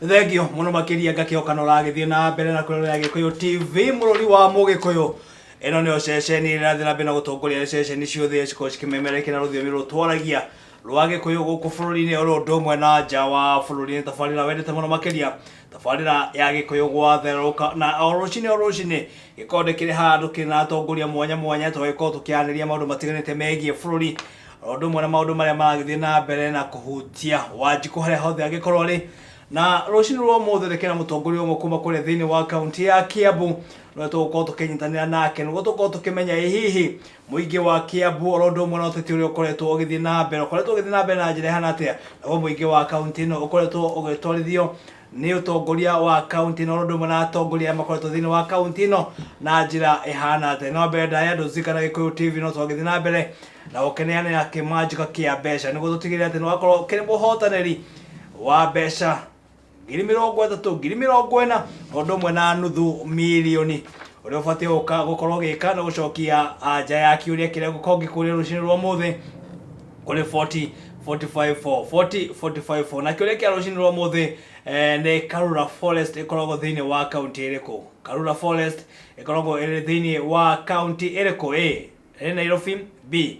thengio muno makiria ngakioka no ragithie na mbere na kurorera gikuyu tv mururi wa mugikuyu ino nio ceceni irathira mbere na gutongoria ceceni ciothe cikorwo cikimemerekera rũthiomi rũrũ twaragia rwa gĩkũyũ gũkũ bũrũri-inĩ oro ũndũ ũmwe na nja wa bũrũri nĩ tabarĩra wendete mũno makĩria tabarĩra ya gĩkũyũ gwatherũka na o rũcinĩ o rũcinĩ gĩkorwo nĩ kĩrĩ handũ kĩrĩ na atongoria mwanya mwanya tũgagĩkorwo tũkĩarĩria maũndũ matiganĩte megiĩ bũrũri o ũndũ ũmwe na maũndũ marĩa maragĩthiĩ na mbere na kũhutia wanjikũ harĩa hothe angĩkorwo arĩ na rũcinĩ rwa ũmũthĩ nĩ kĩna mũtongoria ũmwe kuma kũrĩa thĩinĩ wa kaunti ya kiambu nĩwe tũgũkorwo tũkĩnyitanĩra nake nĩguo tũkorwo tũkĩmenya ĩ hihi Mũingĩ wa Kĩambu oro ũndũ ũmwe na ũteti ũrĩa ũkoretwo ũgĩthiĩ na mbere, ũkoretwo ũgĩthiĩ na mbere na njĩra ĩhana atĩa? Naguo mũingĩ wa kaũntĩ ĩno ũkoretwo ũgĩtwarithio nĩ ũtongoria wa kaũntĩ ĩno oro ũndũ ũmwe na atongoria arĩa makoretwo thĩinĩ wa kaũntĩ ĩno na njĩra ĩhana atĩa? No mbere ndaya andũ Zika na Gĩkũyũ TV no twagĩthiĩ na mbere na gũkĩneanĩra kĩmanjĩka kĩa mbeca nĩguo tũtigĩrĩre atĩ nĩ wakorwo ũkĩrĩ mũhotanĩri wa mbeca ngiri mirongo ĩtatũ ngiri mirongo ĩna o ũndũ ũmwe na nuthu milioni ũrĩa ũbatiĩ gũka gũkorwo gĩka nĩ gũcokia anja ya kĩũria kĩrĩa gũkorwo ngĩkũria rũcinĩ rwa mũthĩ kũrĩ 40 45 4 40 45 4 na kĩũria kĩa rũcinĩ rwa mũthĩ eh, nĩ karura forest ĩkoragwo thĩinĩ wa kaunti ĩrĩkũ karura forest ĩkoragwo ĩrĩ thĩinĩ wa kaunti ĩrĩkũ a ĩrĩ nairobi b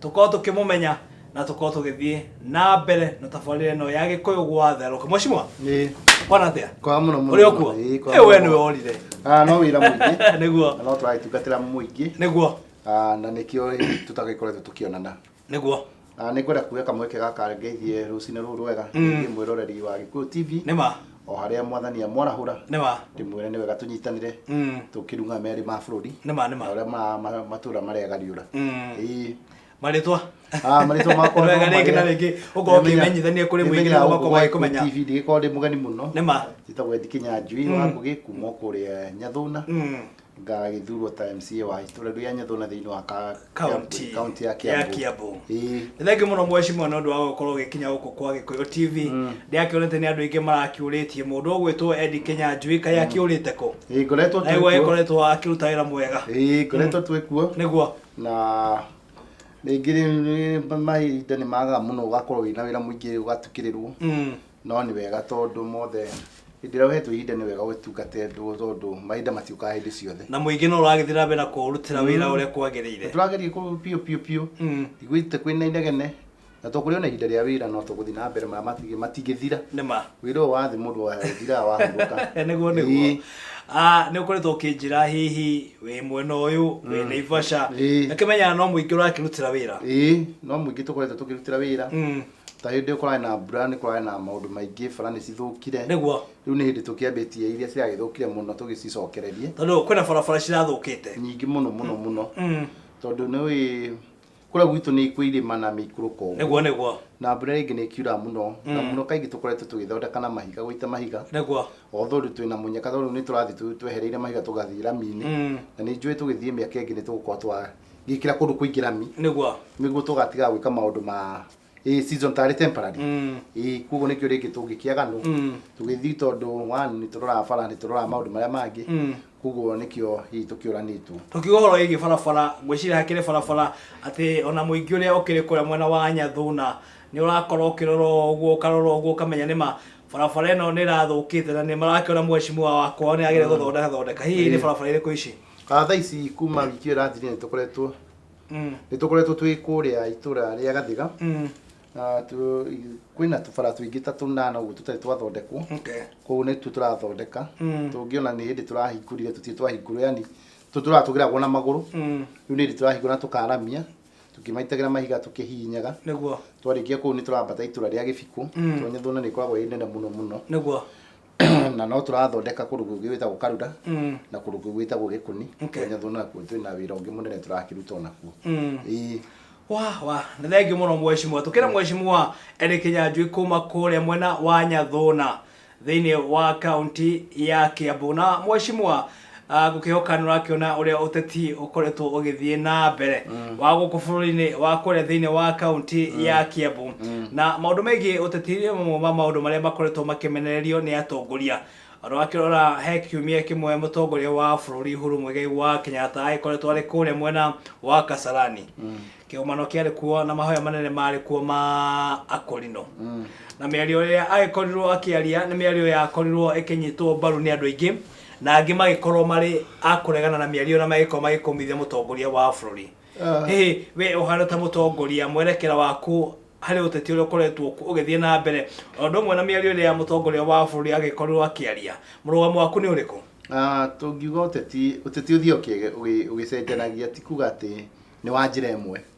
tukorwo tukimumenya na tukorwo tugithie na mbere na tabarire no ya gikuyu gwatheruka mweshimwa Ĩĩ. kwana atia Kwa mũno mũno. uri okuo Ĩĩ, kwa ä we mũno. nä we worire Ah, no wĩra mũingĩ. nĩguo Na no tũragĩtungatĩra mũingĩ. nĩguo Ah, na nĩkĩo rĩu tũtagĩkoretwo tũkĩonana. nĩguo Na nĩ ngwenda kuoya kamweke gaka ngeithie rũcinĩ rũrũ rwega. Mm. Ngeithie mwĩroreri wa Gĩkũyũ TV. nĩ ma o harĩa mwathani amwarahũra nĩ ma ndĩmwĩre nĩ wega tũnyitanĩre Mm. tũkĩrunga merĩ ma bũrũri nĩ ma nĩ na ma ũrĩa ma- ma- matũra marĩa gariũra Mm. Ĩĩ. marĩtwa Ah, marĩtwa makwa Wega no rĩngĩ na marĩa- rĩngĩ, ũkorwo Nĩmenya- ũkĩmenyithania kũrĩ mũingĩ nĩmenyaga nĩguo gũkũ makorwo Gwaikũ magĩkũmenya. TV ndĩgĩkorwo ndĩ mũgeni mũno nĩ ma njĩtagwo Eddie Kĩnyanjui Mm. wa Ngũgĩ kuma o kũrĩa Nyathũna Mm. ngagĩthurwo ta mca wa itũra rĩa nyathona thĩinĩ wa ka- County kaunti ya ya kiambu Kiambu. Ĩĩ. Nĩ thengi mũno mweshimwa nĩ ũndũ wa gũkorwo ũgĩkinya gũkũ kwa gĩkũyũ tv ndĩrakĩonete nĩ andũ aingĩ marakiũrĩtie mũndũ ũgwĩtwo endi kenya njui kaĩ akĩũrĩte kũ Ĩĩ, ngoretwo twĩ naguo kuo. akoretwo akĩruta wĩra mwega Ĩĩ, ngoretwo twĩ kuo nĩguo na rĩngĩ rĩ- mahinda nĩ magaga mũno ũgakorwo wĩna wĩra mũingĩ ũgatukĩrĩrwo Mm. no nĩ wega tondũ mothe hĩndĩ ĩrĩa ũhetwo ihinda nĩ wega ũgĩtungate andũ tondũ mahinda matiũkaga hĩndĩ ciothe na mũingĩ no ũragĩthiĩ na mbere na kũũrutĩra wĩra ũrĩa kwagĩrĩire tũrageria kũ- biũ biũ biũ Mm. igwĩte kwĩ na inegene na tũkũrĩ ona ihinda rĩa wĩra no tũgũthiĩ na mbere marĩa matingĩ- matingĩthira nĩma wĩra ũyũ wathi mũndũ wathiraga wahurũka nĩguo nĩguo Ĩĩ. Ah, nĩ ũkoretwo ũkĩnjĩra hihi wĩ mwena ũyũ wĩ naivasha Ĩĩ. na kĩmenyaga no mũingĩ ũrakĩrutĩra wĩra ĩĩ no mũingĩ tũkoretwo tũkĩrutĩra wĩra Mm. ta hĩndĩ kũrarĩ na mbura nĩ kũrarĩ na maũndũ maingĩ bara nĩ cithũkire Nĩguo. rĩu nĩ hĩndĩ tũkĩambĩtie iria ciragĩthũkire mũno tũgĩcicokererie tondå kwä na barabara cirathå kä te nyingĩ mũno mũno mũno tondå nä å kå rä a gwitå nä kwä irĩma na mä ikå rå nĩguo nĩguo na mbura rĩngĩ nä kiura må no na må no kaingä tå koretwo tå gä thondeka na mahiga gå ita mahiga nĩguo although rä twä na må nyaka tondå nä tå rathiä twehereire mahiga tå gathiä raminä na nä njå ä tå gä thiä mä aka ä ngä nä tå gå korwo twa ngikira kundu kwingi rami niguo niguo tugatiga gwika maundu ma ä season tarä temporary Mm. ä koguo nä kä o rä ngä tå ngä kä aga no Mm. tå gä thiä tondå nä tå roraga bara nä tå roraga maå ndå marä a mangä Mm. koguo nä kä o tå kä å ranä two tukiuga horo ĩgiĩ barabara ngwĩciria hakĩrĩ barabara atĩ ona mũingĩ ũrĩa ũkĩrĩ kũrĩa mwena wa nyathuna nĩ ũrakorwo ũkĩrorwo ũguo ũkarorwo ũguo ũkamenya nĩma barabara ĩno nĩ ĩrathũkĩte na nĩ marakĩona mheshimiwa wakwa nĩ agĩrĩire gũthondeka thondeka hihi nĩ barabara irĩkũ ici Ah, thaa ici kuma wiki ĩyo ĩrathirire nĩ tũkoretwo Mm. nĩ tũkoretwo twĩ kũrĩa itũra rĩa gathiga Mm. na tu- kwĩna tũbara tũingĩ ta tũnana ũguo tũtarĩ twathondekwo Okay. kũu nĩtuo tũrathondeka Mm. tũngĩona nĩ hĩndĩ tũrahingũrire tũtirĩ twahingũrwo yani tũ tũratũgĩragwo na magũrũ Mm. rĩu nĩ hĩndĩ tũrahingũra na tũkaramia tũkĩmaitagĩra mahiga tũkĩhihinyaga Nĩguo. twarĩkia kũu nĩ tũrambata itũra rĩa gĩbikũ Mm. tondũ nĩ tuona nĩ ĩkoragwo ĩ nene mũno mũno Nĩguo. na no tũrathondeka kũndũ kũngĩ gwĩtagwo karuda mm. na kũndũ kũngĩ gwĩtagwo gĩkũni okay. nyathũ nakuo twĩ na wĩra ũngĩ mũnene tũrakĩruta onakuo mm. wa wa nĩ thengi mũno mweshimwa tũkĩra mm. mweshimwa Eli Kĩnyanjui kuma kũrĩa mwena wa Nyathũna thĩinĩ wa kaunti ya Kiambu na mweshimwa Ah, ngũkĩhoka nĩ ũrakĩona ũrĩa ũteti ũkoretwo ũgĩthiĩ na mbere wa gũkũ bũrũri-inĩ wa kũrĩa thĩinĩ wa kaunti ya kiambu na maũndũ megiĩ ũteti nĩ mamwe ma maũndũ marĩa makoretwo makĩmenererio nĩ atongoria ũrakĩrora he kiumia kĩmwe mũtongoria wa bũrũri huru mũigai wa kenyatta agĩkoretwo arĩ kũrĩa mwena wa kasarani kĩgomano kĩarĩ kuo na mahoya manene marĩ kuo ma akorino na mĩario ĩrĩa agĩkorirwo akĩaria nĩ mĩario yakorirwo ĩkĩnyitwo mbaru nĩ andũ aingĩ na angĩ magĩkorwo marĩ a kũregana na mĩario na magĩkorwo magĩkũmithia mũtongoria wa bũrũri Ah. hihi we ũhana ta mũtongoria mwerekera waku harĩ ũteti ũrĩa ũkoretwo ku- ũgĩthiĩ na mbere o ũndũ ũmwe na mĩario ĩrĩa mũtongoria wa bũrũri agĩkorirwo akĩaria mũrũgamo waku nĩ ũrĩkũ Ah, tũngiuga ũteti ũteti ũthiaga ũkĩge- ũgĩ- ũgĩcenjanagia ti kuga atĩ nĩ wa njĩra ĩmwe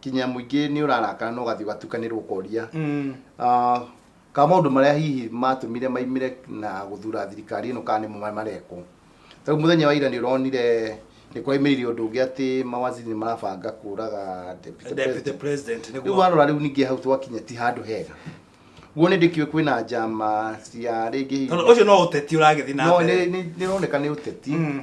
kinya mũingĩ nĩ ũrarakara na ũgathiĩ ũgatukanĩrwo ũkoria Mm. Ah, ka maũndũ marĩa hihi matũmire maimire na gũthura thirikari ĩno kana nĩmo marekwo tau mũthenya wa ira nĩ ũronire nĩ kwaimĩrire ũndũ ũngĩ atĩ mawaziri nĩ marabanga kũraga deputy Deputy president. President rĩu nĩguo warora rĩu ningĩ hau twakinya ti handũ hega guo nĩ ndĩkiũĩ kwĩna njama cia rĩngĩ hihi- Tondũ ũcio no ũteti ũragĩthiĩ na no mbere. nĩ- nĩ- nĩroneka nĩ ũteti Mm.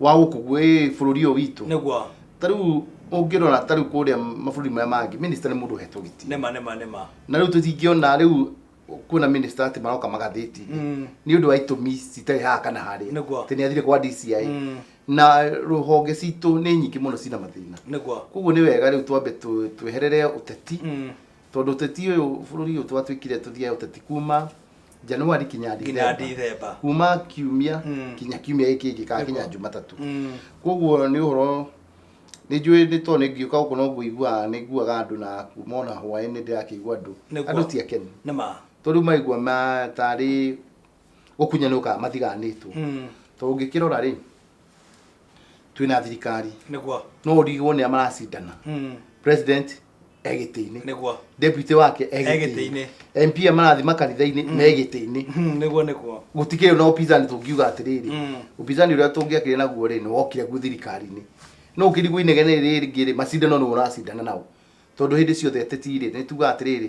wa gũkũ gwĩ bũrũri ũyũ witũ nĩguo ta rĩu ũngĩrora ta rĩu kũrĩa mabũrũri marĩa mangĩ minista nĩ mũndũ ũhetwo gĩtĩ nĩma nĩma nĩma na rĩu tũtingĩona rĩu kuona minista atĩ maroka magathĩti Mm. nĩ ũndũ wa itũmi citarĩ haha kana harĩa Nĩguo. atĩ nĩ athire kwa DCI Mm. na rũhonge citũ nĩ nyingĩ mũno cina mathĩna nĩguo koguo nĩ wega rĩu twambe tu- tweherere ũteti Mm. Tondũ ũteti ũyũ bũrũri ũyũ twatuĩkire tũthiae ũteti kuma Januari kinya Nginya Dithemba. Dithemba. Kuma kiumia Mm. kinya kiumia gĩkĩ kĩngĩ kana kinya Jumatatũ. Mm. Koguo nĩ ũhoro nĩ njũĩ nĩ tondũ nĩ ngĩũka gũkũ no ngũiguaga nĩ nguaga andũ na kuma ona hwaĩ-inĩ nĩ ndĩrakĩigua andũ. Nĩguo. Andũ ti akenu. Nĩ ma. Tondũ rĩu maigua ma tarĩ gũkunyanũka mathiganĩtwo. Mm. Tondũ ũngĩkĩrora rĩ twĩna thirikari Nĩguo. no ũrigwo nĩ a maracindana. Mm. President e gĩtĩ-inĩ nĩguo deputy wake e E gĩtĩ-inĩ. gĩtĩ-inĩ MP marathi makanitha-inĩ me gĩtĩ-inĩ Hmm, nĩguo nĩguo gũtikĩrĩ na upinzani tũngiuga atĩrĩrĩ Mm. upinzani ũrĩa tũngĩakĩrĩ naguo rĩ nĩ wokire gu thirikari-inĩ no ũkĩrigwo inegene rĩrĩ rĩngĩ rĩ macindano nĩ ũracindana nao tondũ hĩndĩ ciothe ateti rĩ nĩ tugaga atĩrĩrĩ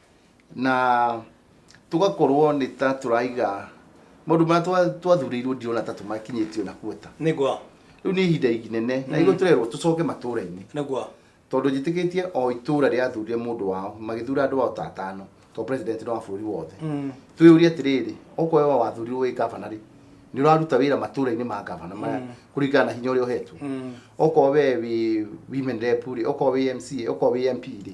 na tũgakorwo nĩ ta tũraiga maũndũ marĩa twa- twathurĩirwo ndirona ta tũmakinyĩtie ona kuota nĩguo rĩu nĩ ihinda inene na igũĩ tũrerwo tũcoke matũra-inĩ nĩguo tondũ njĩtĩkĩtie o itũra rĩathurire mũndũ wao magĩthura andũ ao ta atano to president no wa bũrũri wothe Mm. twĩyũrie atĩrĩrĩ okorwo we wathurirwo wĩ gavana rĩ nĩ ũraruta wĩra matũra-inĩ ma gavana maya Mm. kũringana na hinya ũrĩa ũhetwo Mm. okorwo we wĩ women rep rĩ okorwo wĩ mca okorwo wĩ mp rĩ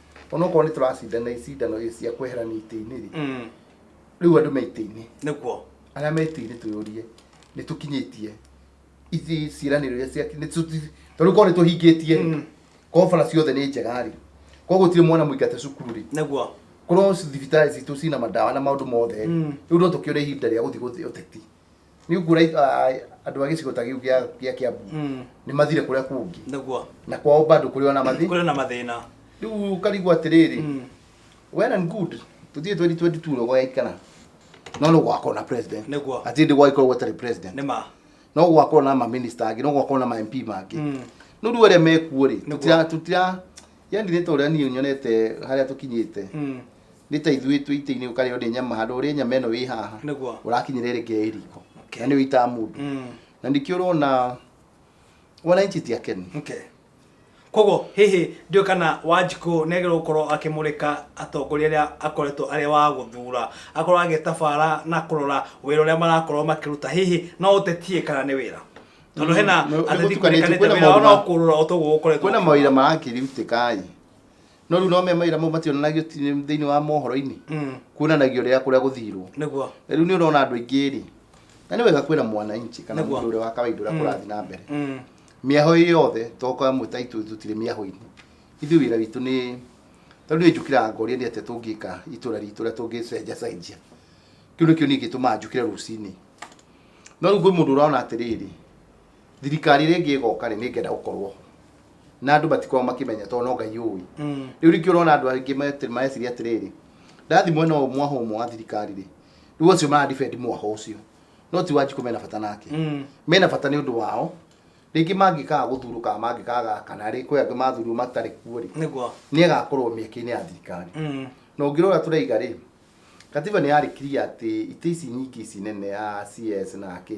onokorwo nĩ tũracindana icindano ici cia kweherania itĩ-inĩ rĩ Mm. rĩu andũ me itĩ-inĩ nĩguo arĩa me itĩ-inĩ twĩyũrie nĩ tũkinyĩtie ici ciĩranĩro iria cia nĩ tũ- tondũ korwo nĩ tũhingĩtie rĩ Mm. korwo bara ciothe nĩ njega rĩ korwo gũtirĩ mwana mũingate cukuru rĩ nĩguo korwo thibitarĩ citũ cina mandawa na maũndũ mothe rĩ Mm. rĩu no tũkĩone ihinda rĩa gũthiĩ gũthiĩ ũteti nĩ nguona it- a- a- andũ a gĩcigo ta gĩu gĩa gĩa kĩambu Mm. nĩ mathire kũrĩa kũngĩ nĩguo na kwao bado kũrĩ ona mathi kũrĩ na mathĩna rĩu ũkarigwo atĩrĩrĩ Mm. well and good tũthiĩ 2022 rogo yaikana no no gwakorwo na president Nĩguo. atĩ ndĩ gwagĩkorwo gwetarĩ president nĩ ma no gwakorwo na maminista angĩ no gwakorwo na mamp mangĩ Mm. no rĩu arĩa mekuo rĩ Nĩguo. tũtira tũtira yani nĩ ta ũrĩa niĩ nyonete harĩa tũkinyĩte Mm. nĩ ta ithuĩ twĩ itĩ-inĩ ũkarĩo nĩ nyama handũ ũrĩe nyama ĩno wĩ haha Nĩguo. ũrakinyĩra ĩrĩ ngeĩ riko Okay. na nĩ ũitaa mũndũ Mm. na nĩkĩo ũrona wananchi ti akenu Okay. koguo hihi ndiũ kana wanjikũ negero gũkorwo akĩmũrĩka atongoria arĩa akoretwo arĩa wa gũthura akorwo agĩtabara na kũrora wĩra ũrĩa marakorwo makĩruta hihi no ũtetie kana nĩ wĩra tondũ hena Mm, nĩ- nĩ ateti gũtukanĩtio, kũrĩkanĩte kwĩna wĩra wao maũndũ no ma- kũrora o toguo gũkoretwo kwĩna mawĩra marakĩrutĩka ĩ no rĩu no me maira mau mationanagio ti- thĩinĩ wa mohoro-inĩ Mm. kuonanagio rĩrĩa kũrĩa gũthirwo nĩguo Na rĩu nĩ ũrona andũ aingĩ rĩ na nĩ wega kwĩra mwananchi kana Nĩguo. mũndũ ũrĩa wa kawaida ũrĩa kũrathiĩ na mbere Mm. mĩaho ĩ yothe toka amwe ta itũ tũtirĩ mĩaho-inĩ ithuĩ wĩra witũ nĩ tondũ nĩ njũkĩraga ngoria nĩ atĩa tũngĩka itũra ritũ ũrĩa tũngĩcenjacenjia kĩu nĩkĩo niĩ gĩtũmaga njũkĩre rũcinĩ no rĩu kwĩ mũndũ ũrona atĩrĩrĩ thirikari ĩrĩa ĩngĩ ĩgoka rĩ nĩngenda gũkorwo ho na andũ matikorwo makĩmenya tondũ no ngai ũĩ Mm. rĩu rĩngĩ ũrona andũ aingĩ meti- mareciria atĩrĩrĩ ndathi mwena ũyũ mwaha ũmwe wa thirikari rĩ rĩu acio maradibend mwaha ũcio no ti wanjikũ mena bata nake Mm. mena bata nĩ ũndũ wao rĩngĩ mangĩkaga gũthurwo kana mangĩkaga kana rĩ kwĩ angĩ mathurirwo matarĩ kuo rĩ nĩguo nĩ agakorwo mĩeke-inĩ ya thirikari Mm. na ũngĩrora tũraiga rĩ katiba nĩ yarĩkirie atĩ itĩ ici nyingĩ ici nene ya cs na kä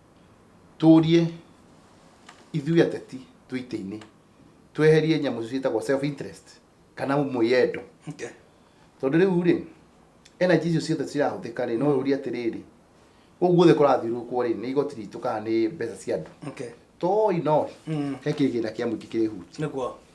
Tũrie ithuĩ ateti twĩ itĩ-inĩ tweherie nyamũ ciĩtagwo self interest kana mwĩyendo Okay. tondũ rĩu rĩ energy icio ciothe cirahũthĩka rĩ no ũrie atĩrĩrĩ gũkũ guothe kũrathiũrũkwo rĩ nĩ igoti ritũ kana nĩ mbeca cia andũ Okay. toi noi Mm. he kĩgĩna kĩa mũingĩ kĩrĩhutia Nĩguo.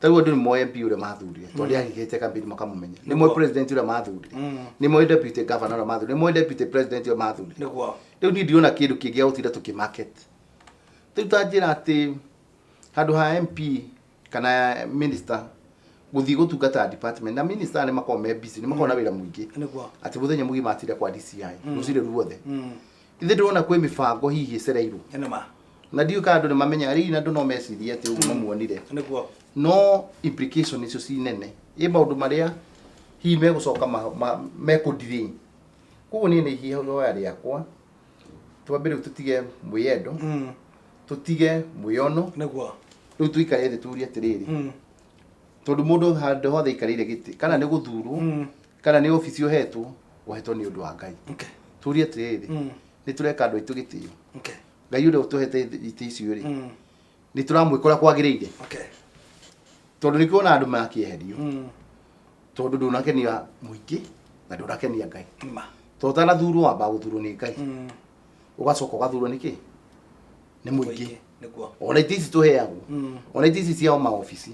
ta rĩu andũ nĩ moĩ MP ũrĩa mathurire tondũ Mm. nĩahithĩte kambĩni makamũmenya nĩ moĩ Nĩguo. president ũrĩa mathurire Mm. nĩ moĩ deputy governor ũrĩa mathurire nĩ moĩ deputy president ũrĩa mathurire nĩguo rĩu niĩ ndirona kĩndũ kĩngĩ gĩa gũtinda tũkĩmarket rĩu ta njĩra atĩ handũ ha mp kana minister gũthiĩ gũtungata department na minister nĩ makoragwo me busy nĩ makoragwo na wĩra mũingĩ nĩguo atĩ mũthenya mũgima atinda kwa DCI Mm. rũcirĩ ruothe Mm. Ithe ndĩrona kwĩ mĩbango hihi ĩcereirwo. Nĩ ma. Na ndiũĩ kana andũ nĩ mamenyaga rĩu andũ no mecirie atĩ ũguo mamuonire. Nĩguo. No implication icio ci nene. Ĩ maũndũ marĩa hihi megũcoka ma- ma- mekũ delay. Koguo niĩ nĩ ihoya rĩakwa twambe rĩu tũtige mwĩyendo, tũtige mwĩyono, Nĩguo. rĩu tũikare thĩ turie atĩrĩrĩ, tondũ mũndũ handũ hothe aikarĩire gĩtĩ kana nĩ gũthurwo kana nĩ obici ũhetwo ũhetwo nĩ ũndũ wa ngai Okay. tũrie atĩrĩrĩ Mm. nĩ tũreka andũ aitũ gĩtĩo Okay. ngai ũrĩa ũtũhete itĩ icio rĩ Mm. nĩ tũramwĩkora kwagĩrĩire Okay. tondũ nĩ kuona andũ makĩeherio Mm. tondũ ndũnakenia mũingĩ na ndũnakenia ngai Ma. tondũ ũtanathurwo wamba gũthurwo nĩ ngai Mm. ũgacoka ũgathurwo nĩkĩ nĩ mũingĩ ona itĩ ici tũheagwo mm. ona itĩ ici ciao maobici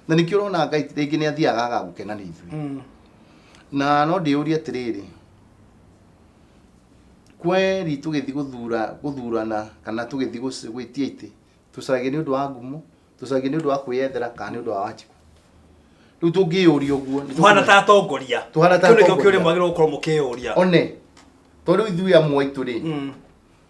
na nĩkĩo ũrona ngai rĩngĩ nĩ athiaga aga gũkena nĩ ithuĩ mm. na no ndĩyũrie atĩrĩrĩ kweri tũgĩthiĩ gũthura gũthurana kana tũgĩthiĩ gwĩtia itĩ tũcaragia nĩ ũndũ wa ngumo tũcaragia nĩ ũndũ wa kwĩyethera kana nĩ ũndũ wa wanjikũ riu tungiyuria uguo tuhana ta atongoria tuhana ta atongoria kiu kiuri mwagirwo gukorwo mukiyuria one to riu ithuĩ amwe itu ri mm.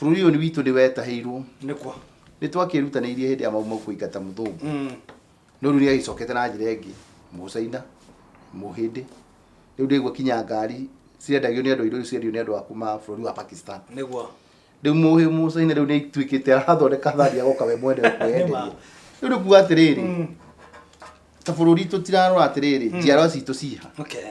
Bũrũri ũyũ nĩ witũ nĩ wetahĩirwo. Nĩ kwa. Nĩ twakĩĩrutanĩirie hĩndĩ ya mau mau kũingata mũthũngũ. Mm. No rĩu nĩ agĩcokete na njĩra ĩngĩ, mũcaina, mũhĩndĩ. Rĩu ndĩgua kinya ngari cirendagio nĩ andũ airũ ciendio nĩ andũ a kuma bũrũri wa Pakistan. Nĩ kwa. Rĩu mũhĩ mũcaina rĩu nĩ ituĩkĩte arathondeka thani agoka we mwene kwĩyenderia. Rĩu nĩ kuga atĩrĩrĩ, mm. ta bũrũri tũtirarora atĩrĩrĩ, mm. njiarwa citũ ciha. Okay.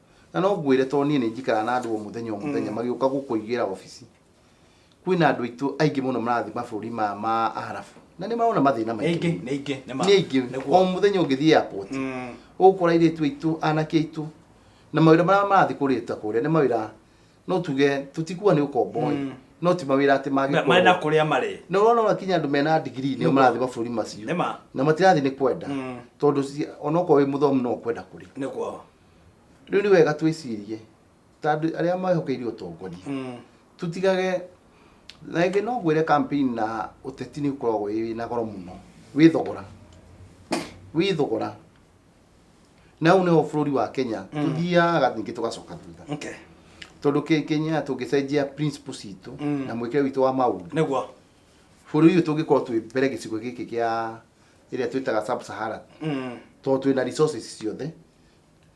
na no ngwĩre tondũ niĩ nĩ njikaraga na andũ o mũthenya o mũthenya magĩũka gũkũigĩra wabici kwĩna andũ aitũ aingĩ mũno marathiĩ mabũrũri ma ma arabu na nĩ marona mathĩna nĩ ingĩ maingĩ nĩ ingĩ nĩ ma- nĩ aingĩ o nĩguo. mũthenya ũngĩthiĩ airport Mm. ũgũkora airĩtu aitũ anake aitũ na mawĩra marĩa marathiĩ kũrĩta kũrĩa nĩ mawĩra no tuge tũtikuga nĩ ũkombo Mm. no ti mawĩra atĩ Ma- marĩ na mangĩkorwo kũrĩa marĩ na ũrona wakinya andũ mena ndigiri nĩ Nĩguo. marathiĩ mabũrũri macio nĩ ma na matirathiĩ nĩ kwenda Mm. tondũ ci- onokorwo wĩ mũthomu no kwenda kũrĩ nĩguo rĩu nĩ wega twĩcirie ta andũ arĩa mehokeire ũtongoria Mm. tũtigage na ĩngĩ no ngwĩre campaign na ũteti nĩ ũkoragwo wĩ na goro mũno wĩ thogora wĩ thogora na hau nĩho bũrũri wa kenya tũthiaga ningĩ tũgacoka thutha Okay. tondũ Ke- kenya tũngĩcenjia principle citũ Mm. na mwĩkĩre witũ wa maũndũ nĩguo bũrũri ũyũ tũngĩkorwo twĩ mbere gĩcigo gĩkĩ kĩa ĩrĩa twĩtaga sub sahara tondũ twĩna resources ciothe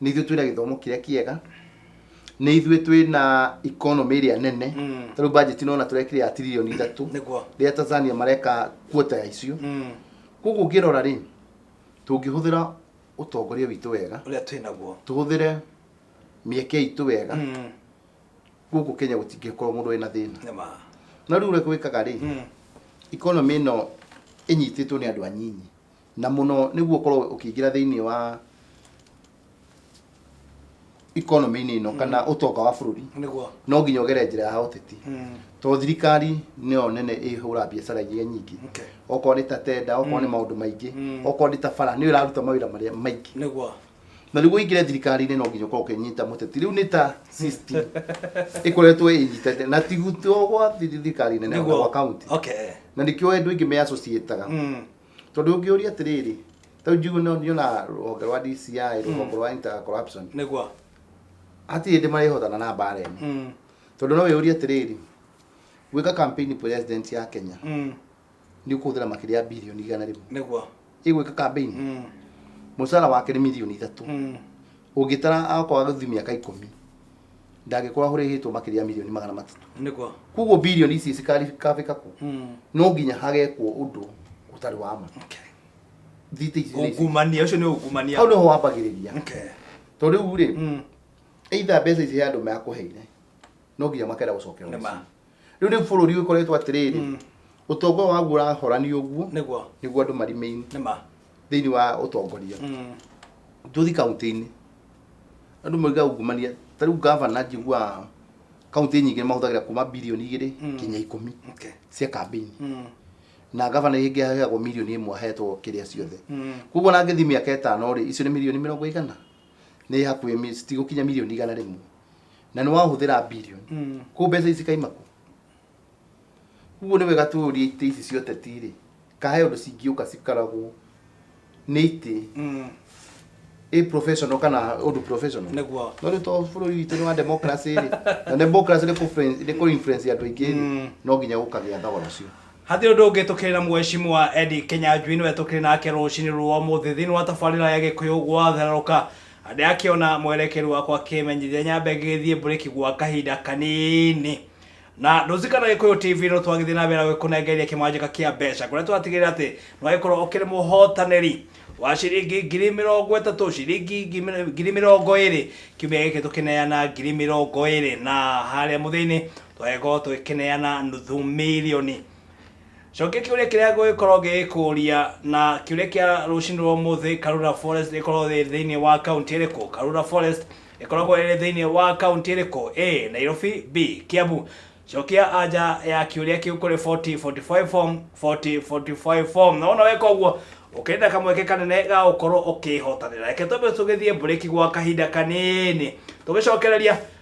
nĩ ithuĩ twĩna gĩthomo kĩrĩa kĩega nĩ ithuĩ twĩna economy ĩrĩa nene ta rĩu budget ĩno ona tũrekire ya tiririoni ithatũ Nĩguo. rĩrĩa tanzania mareka kuota ya icio koguo ũngĩrora rĩ tũngĩhũthĩra ũtongoria witũ wega ũrĩa twĩnaguo tũhũthĩre mĩeke itũ wega gũkũ kenya gũtingĩkorwo mũndũ wĩna thĩna Nĩma. no rĩu ũrĩa gwĩkaga rĩ Mm. economy ĩno ĩnyitĩtwo nĩ andũ anyinyi na mũno nĩguo ũkorwo ũkĩingĩra thĩinĩ wa economy-inĩ ĩno kana ũtonga wa bũrũri Nĩguo. no nginya ũgere njĩra ya ũteti Mm. tondũ thirikari nĩyo nene ĩhũra biacara iria nyingĩ Okay. okorwo nĩ ta tenda okorwo nĩ maũndũ maingĩ Mm. okorwo nĩ ta bara nĩyo ĩraruta mawĩra marĩa maingĩ Nĩguo. na nĩguo ingĩre thirikari-inĩ no nginya ũkorwo ũkĩnyita mũteti rĩu nĩ ta system ĩkoretwo ĩnyitete na ti gũtua gwa thirikari nene ona Nĩguo. gwa kaunti Okay. na nĩkĩo andũ aingĩ me associated Mm. tondũ ũngĩũria atĩrĩrĩ tau njugu no niona rũhonge rwa DCI rũhonge rwa inter corruption Nĩguo. hatirĩ hĩndĩ marĩhotana na mbara ĩno Mm. tondũ no wĩyũrie atĩrĩrĩ gwĩka campaign president ya Kenya Mm. nĩ ũkũhũthĩra makĩria ya bilioni igana rĩmwe nĩguo ĩgwĩka kambĩini Mm, mũcara wake nĩ milioni ithatũ mm. ũngĩtara akorwo agĩthiĩ mĩaka ikũmi ndangĩkorwo ahũrĩhĩtwo makĩria ya milioni magana matatũ nĩguo koguo bilioni ici cikarĩkabĩka kũ Mm, no nginya hagekwo ũndũ ũtarĩ wa ma okay. thite ici nĩ ici. ungumania ũcio nĩ ungumania hau nĩho wambagĩrĩria Okay. to rĩu rĩ Mm, either mbeca ici he andũ mekũheire no nginya makenda gũcokerwo Nĩ ma. mũciĩ rĩu rĩu bũrũri ũkoretwo atĩrĩrĩ Mm. ũtonga ũyũ waguo ũrahorani ũguo nĩguo nĩguo andũ marimaini nĩ ma thĩinĩ wa ũtongoria Mm. tũthi kaunti-inĩ andũ mauga ungumania ta rĩu gavana njigua kaunti nyingĩ mahũthagĩra kuma bilioni igĩrĩ Mm. kinya ikũmi okay cia kambĩini Mm. na gavana ĩngĩ aheagwo milioni ĩmwe ahetwo kĩrĩa ciothe Mm. koguo na ngĩthi mĩaka ĩtano rĩ icio nĩ milioni mĩrongo igana nĩ hakuhĩ mi- citigũkinya mirioni igana rĩmwe na nĩ wahũthĩra bilioni Mm. kũ mbeca ici kaima kũ ũguo nĩ wega tũũrie itĩ ici cia ũteti-rĩ kahe ũndũ cingĩũka cikaragwo nĩ itĩ Mm. ĩ professional kana ũndũ professional Nĩguo. no rĩu to bũrũri witũ nĩ wa democracy rĩ na democracy nĩ kũ- nĩ kũ influence andũ aingĩ rĩ Mm. no nginya gũkagĩa thogora ũcio Hatirĩ ũndũ ũngĩ tũkĩrĩ na Mheshimiwa Eddie Kĩnyanjui nĩwe tũkĩrĩ nake rũcinĩ rwa ũmũthĩ thĩinĩ wa tabarĩra ya Gĩkũyũ gwathererũka. Ndĩrakĩona mwerekeri wakwa akĩmenyithia nyambe ngĩgĩthiĩ mburĩki gwa kahinda kanini. Na ndũzikana Gĩkũyũ TV no twagĩthiĩ na mbere na gũkũnengeria kĩmanjĩka kĩa mbeca kũrĩa tũratigĩrĩra atĩ nĩwagĩkorwo ũkĩrĩ mũhotanĩri wa ciringi ngiri mĩrongo ĩtatũ, ciringi ngi- ngiri mĩrongo ĩrĩ, kiumia gĩkĩ tũkĩneana ngiri mĩrongo ĩrĩ na harĩa mũthia-inĩ Twagĩkorwo tũgĩkĩneana nuthu mirioni. Cokia kĩũria kĩrĩa ngũgĩkorwo ngĩgĩkũria na kĩũria kĩa rũcinĩ rwa ũmũthĩ, Karura Forest ĩkoragwo ĩrĩ thĩinĩ wa kaunti ĩrĩkũ? Karura Forest ĩkoragwo ĩrĩ thĩinĩ wa kaunti ĩrĩkũ? A. Nairobi, B. Kiambu. Cokia anja ya kĩũria kĩu kũrĩ 4045 form, 4045 form. Na wona weka ũguo, ũkĩrĩ na kamweke kanene ga gũkorwo ũkĩhotanĩra. Reke twambe tũgĩthiĩ mburĩki gwa kahinda kanini. Tũgĩcokereria